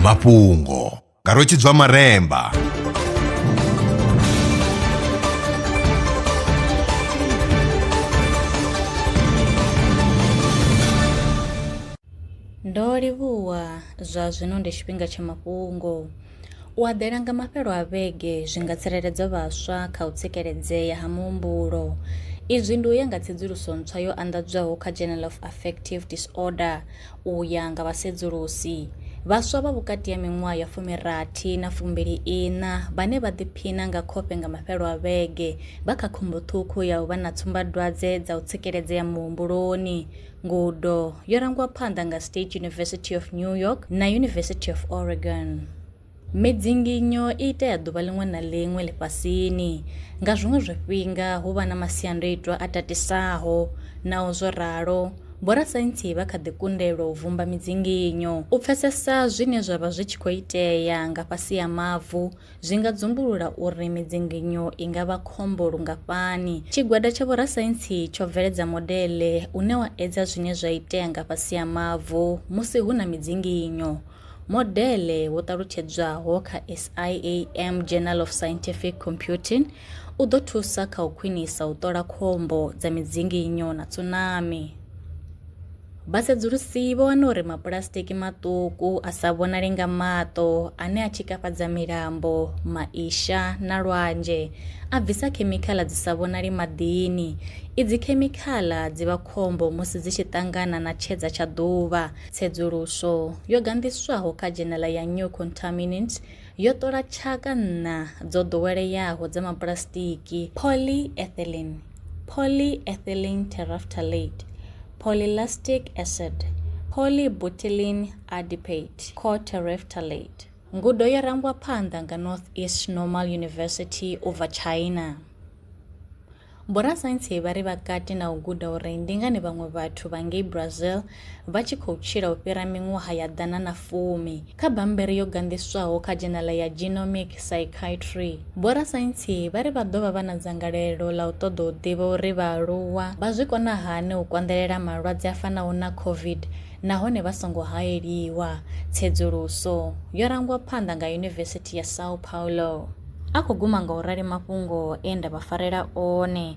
mafhungo nga rwetshidzwa maremba Ndo livhuwa, zwa zwino ndi tshifhinga tsha mafhungo. U eḓela nga mafhelo a vhege zwi nga tsireledza vhaswa kha u tsikeledzea ha muhumbulo. Izwi ndi u ya nga tsedzuluso ntswa yo anḓadzwaho kha Journal of Affective Disorder u ya nga vha sedzulusi. Vhaswa vha vhukati ha miṅwaha ya fumirathi na fumbili iṋa vhane vha ḓiphina nga khofhe nga mafhelo a vhege vha kha khombo ṱhukhu ya u vha na tsumbadwadze dza u tsikeledzea muhumbuloni. ngudo yorangwa phanḓa nga state university of new york na university of oregon midzinginyo i itea ḓuvha ḽiṅwe na ḽiṅwe ḽifhasini nga zwiṅwe zwifhinga hu vha na masiandoitwa a tatisaho naho zwo ralo vhorasaintsi vha kha ḓi kundelwa u vumba midzinginyo u pfesesa zwine zwa vha zwi tshi khou itea nga fhasi ya mavu zwi nga dzumbulula uri midzinginyo i nga vha khombo lungafhani. Tshigwada tsha vhorasaintsi tsho bveledza modele une wa edza zwine zwa itea nga fhasi ha mavu musi hu na midzinginyo. Modele wo ṱalutshedzwaho kha SIAM Journal of Scientific Computing u ḓo thusa kha u khwinisa u ṱola khombo dza midzinginyo na tsunami. Vhasedzulusi vho wana uri mapulasitiki maṱuku a sa vhonali nga maṱo ane a tshikafhadza milambo, maisha na lwanzhe a bvisa khemikhala dzi sa vhonali maḓini. Idzi khemikhala dzi vha khombo musi dzi tshi ṱangana na tshedza tsha ḓuvha. Tsedzuluso yo ganḓiswaho kha dzhenela ya New Contaminant yo ṱola tshaka nṋa dzo ḓoweleaho dza mapulasitiki, polyethylene, polyethylene terephthalate, polylactic acid, polybutylene adipate, coterephthalate. Ngudo yo rangwa phanḓa nga Northeast Normal University u bva China. Vhorasaintsi vha ri vha kati na u guda uri ndi ngani vhaṅwe vhathu vha ngei Brazil vha tshi khou tshila u fhira miṅwaha ya ḓana na fumi. Kha bammbiri yo ganḓiswaho kha dzhenala ya Genomic Psychiatry, vhorasaintsi vha ri vha ḓo vha vha na dzangalelo ḽa u ṱoḓa u ḓivha uri vhaaluwa vha zwi kona hani u konḓelela malwadze a fanaho na COVID nahone vha songo haeliwa. Tsedzuluso yo rangwa phanḓa nga Yunivesithi ya São Paulo. A khou guma nga u rali mafhungo e nda vha farela one.